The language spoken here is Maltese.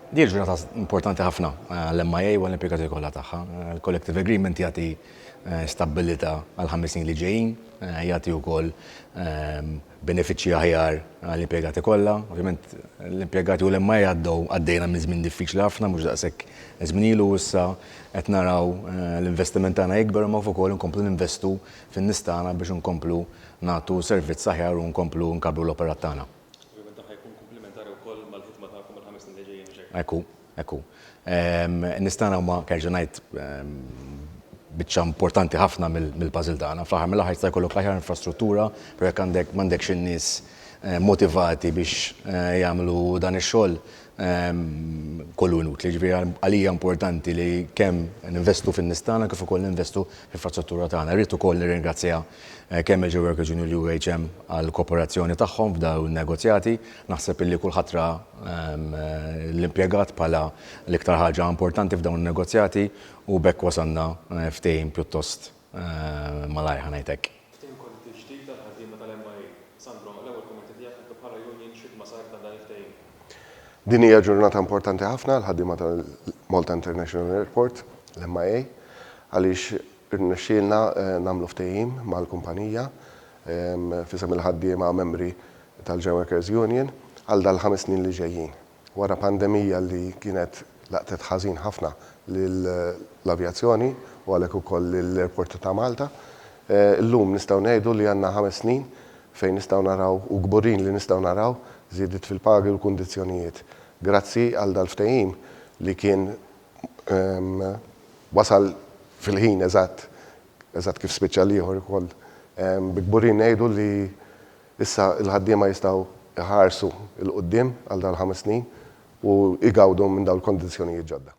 Din il-ġurnata importanti ħafna għall-MIA u għall-impjegati kollha tagħha. Il-Collective Agreement jagħti stabbilità għall-ħames snin li ġejjin, jagħti wkoll benefiċċji aħjar għall-impjegati kollha. Ovvjament, l-impjegati u l-MIA għaddew, għaddejna minn żmien diffiċli ħafna, mhux daqshekk żmien ilu, u issa qed naraw l-investiment tagħna jikber imma kif ukoll inkomplu ninvestu fin-nies tagħna biex inkomplu nagħtu servizz aħjar u nkomplu nkabbru l-operat tagħna. Ovvjament dan ħa jkun kumplimentari wkoll mal-ħidma tagħkom għall-ħames snin li ġejjin, mhux hekk? Hekk hu, hekk hu. In-nies tagħna huma, kerġa' ngħid, biċċa importanti ħafna mill-puzzle tagħna. Fl-aħħar mill-aħħar jista' jkollok l-aħjar infrastruttura, però jekk għandek m'għandekx in-nies motivati biex jagħmlu dan ix-xogħol, kollu inutli. Ġifieri għalija importanti li kemm ninvestu fin-nies tagħna kif ukoll ninvestu fl-infrastruttura tagħna. Irrid ukoll nirringrazzja kemm il-Geo Workers Union u l-UHM għall-kooperazzjoni tagħhom f'dawn in-negozjati. Naħseb illi kulħadd ra l-impjegat bħala l-iktar ħaġa importanti f'dawn in-negozjati u b'hekk wasalna ftehim pjuttost Malajr ħa ngħidlek. Ftehim kollettiv ġdid għall-ħaddiema tal-MIA. Sandro, l-ewwel kummenti tiegħek intom bħala union x'ħidma saret għal dan il-ftehim? Din hija ġurnata importanti ħafna għall-ħaddiema tal-Malta International Airport, l-MIA, għaliex irnexxielna nagħmlu ftehim mal-kumpanija f'isem il-ħaddiema membri tal-Genworkers' Union għal dal-ħames snin li ġejjin. Wara pandemija li kienet laqtet ħażin ħafna lill-avjazzjoni u għalhekk ukoll lill-ajrporti ta' Malta, illum nistgħu ngħidu li għandna ħames snin fejn nistgħu naraw, u kburin li nistgħu naraw, żiediet fil-pagi u l-kundizzjonijiet grazzi għal dal-ftehim li kien wasal fil-ħin eżatt, eżatt kif spiċċa l-ieħor ukoll. Bi kburin ngħidu li. Issa l-ħaddiema jistgħu jħarsu 'l quddiem għal dawn il-ħames snin u jgawdu minn dawn il-kondizzjonijiet ġodda.